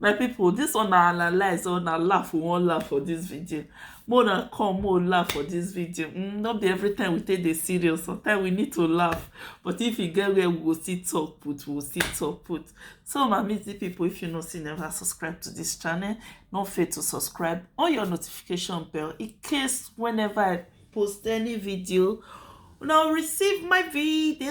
My people this one na analyze or na laugh we wan laugh for this video. Make una come make we laugh for this video. Mm, no be every time we take dey serious. Sometimes we need to laugh. But if e get where we go still talk put, we go still talk put. So my amazing people, if you no see never subscribe to this channel, no fail to subscribe on your notification bell in case whenever I post any video, una receive my video.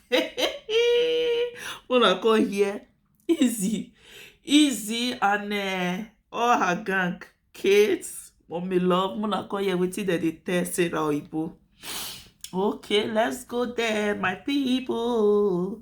una come hear easy easy and um all her gang kate mummy love una come hear wetin dem dey tell sarah oyibo okay let's go there my people.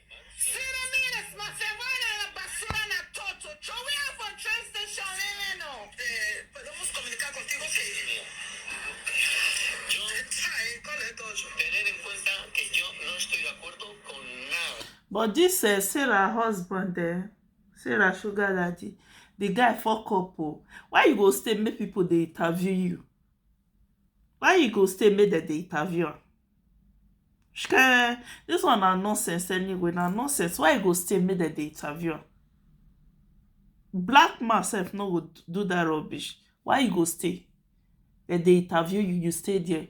but dis eh, sarah husband eh, sarah sugar daddy the guy fuck up o oh. why you go stay make people dey interview you Why e go stay make dem dey interview am? Shikeh! Dis one na nonsense anyway, na nonsense. Why e go stay make dem dey interview am? Black man sef no go do dat rubbish. Why e go stay? Dem dey interview you, you stay there.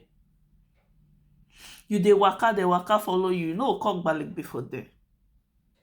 You dey waka, dem waka follow you, you no go come gbalegbe for there.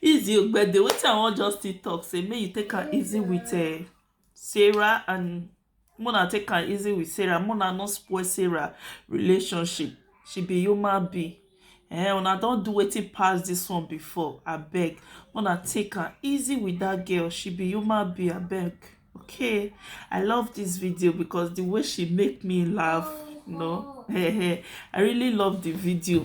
Easy Ogbede, wetin I wan just still talk say make you take am easy with uh, Sarah and Mona take am easy with Sarah. Mona no spoil Sarah relationship. She be human being. Eh, una don do wetin pass this one before. I beg. Mona take am easy with that girl. She be human being. I beg. Okay. I love this video because the way she make me laugh. No. I really love the video.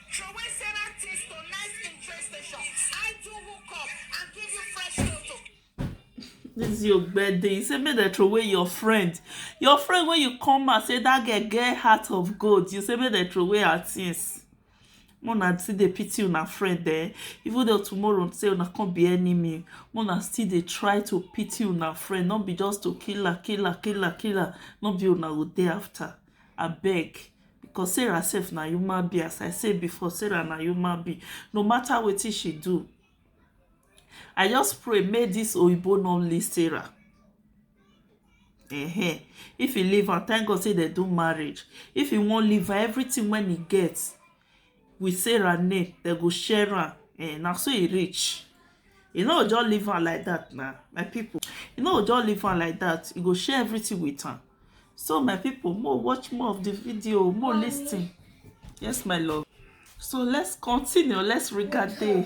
Throway Sarah things to nice in train station. I do hook up and give you fresh toto. This is your birthday. You say make dem throw away your friend. Your friend when you come and say that girl get heart of gold. You say make dem throw away her things. Mona still dey pity una friend eh. Even though tomorrow say una come be enemy, Mona still dey try to pity una friend. Not be just to kill her, kill her, kill her, kill her. Not be una go dey after. Abeg. Because Sarah sef na human being as I say before Sarah na human being no matter wetin she do I just pray make this oyibo no leave Sarah uh-huh. if he leave am thank God say they do marriage if he wan leave her everything when he get with sarah name dem go share am eh, na so e reach e no just leave am like that na my people e no just leave am like that e go share everything with am so my people more watch more of the video more listen yes my love so let's continue let's regard day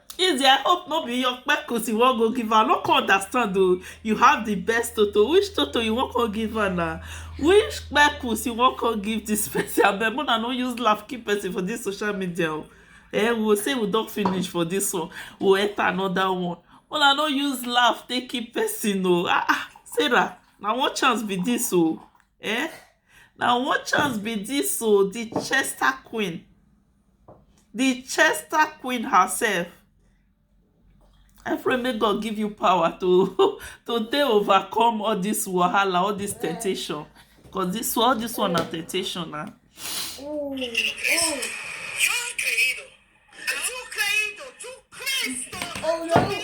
Izzy, I hope no be your kpekus you wan go give her. I no come understand o. You have the best toto. Which toto you wan come give her na? Which kpekus you wan come give this person? Abeg, una no use laugh keep person for this social media o. Eh, we go say we don finish for this one. We go enter another one. Una no use laugh take keep person o. Ah ah, Sarah, na one chance be this o. Eh? Na one chance be this o. The Chester Queen. the chester queen herself I pray make God give you power to to take overcome all this wahala, all this temptation. Because this all this one na temptation now. Oh, oh. Oh, no.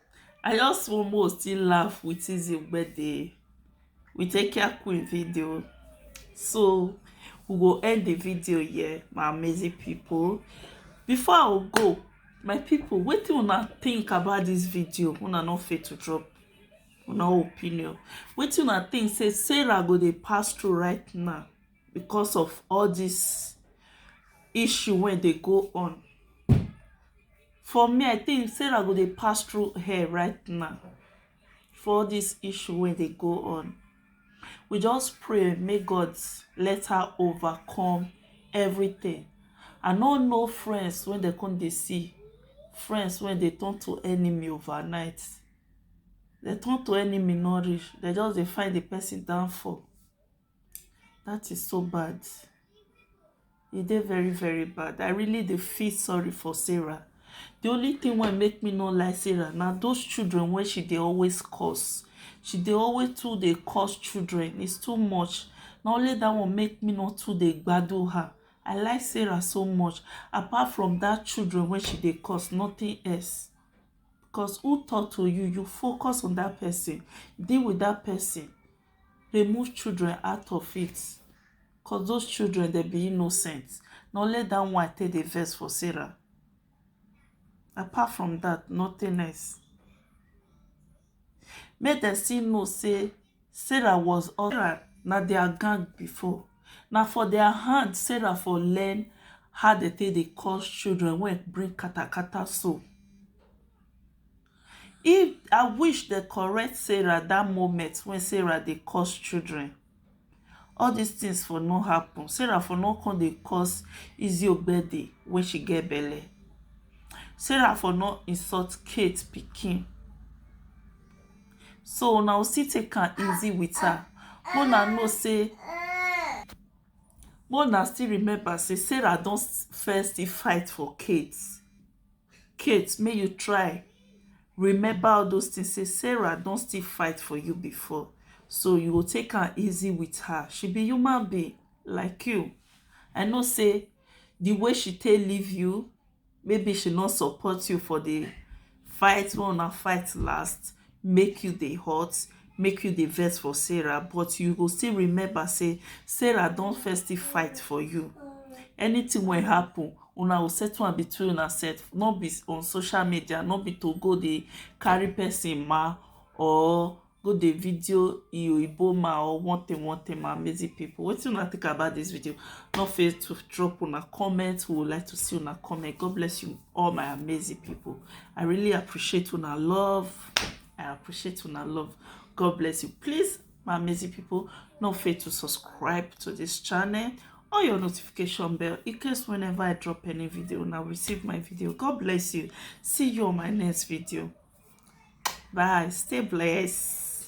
I just want more still laugh with his birthday. We take care queen video. So we will end the video here, my amazing people. Before I will go, my people, what do you wanna think about this video? Una not fit to drop una opinion. What do you wanna think? Say Sarah go dey pass through right now. because of all this issue wey dey go on for me i think sarah go dey pass through hell right now for all this issue wey dey go on we just pray make god let her overcome everything i no know friends wey dem come dey see friends wey dey turn to enemy overnight dem turn to enemy no reach dem just dey find the person downfall that is so bad e dey very very bad i really dey feel sorry for sarah the only thing wey make me no like sarah na those children wey she dey always cause she dey always too dey cause children it's too much na only that one make me no too dey gbadu her i like sarah so much apart from that children wey she dey cause nothing else because who talk to you you focus on that person deal with that person remove children out of it cause those children they be innocent na only that one take the verse for sarah apart from that nothing else make them still know say sarah was sarah na their gang before na for their hand sarah for learn how they take the cause children when bring katakata so If I wish dem correct Sarah that moment when Sarah dey cause children, all these things for no happen. Sarah for no come dey cause Izzy Ogbede when she get belle. Sarah for no insult Kate pikin. So una go still take am easy with her. Make una know say make una still remember say Sarah don first still fight for Kate. Kate make you try remember all those things say Sarah don still fight for you before so you go take am easy with her she be human being like you I know say the way she take leave you maybe she no support you for the fight wey una fight last make you dey hot make you dey vex for sarah but you go still remember say sarah don first still fight for you anything wey happen una go settle am between una sef no be on social media no be to go dey carry person ma or go dey video iyoibo ma or one thing one thing ma amazing people wetin una think about this video no fail to drop una comment we would like to see una comment god bless you all my amazing people i really appreciate una love i appreciate una love god bless you please my amazing people no fail to subscribe to this channel on your notification bell in case whenever i drop any video now receive my video god bless you see you on my next video bye stay blessed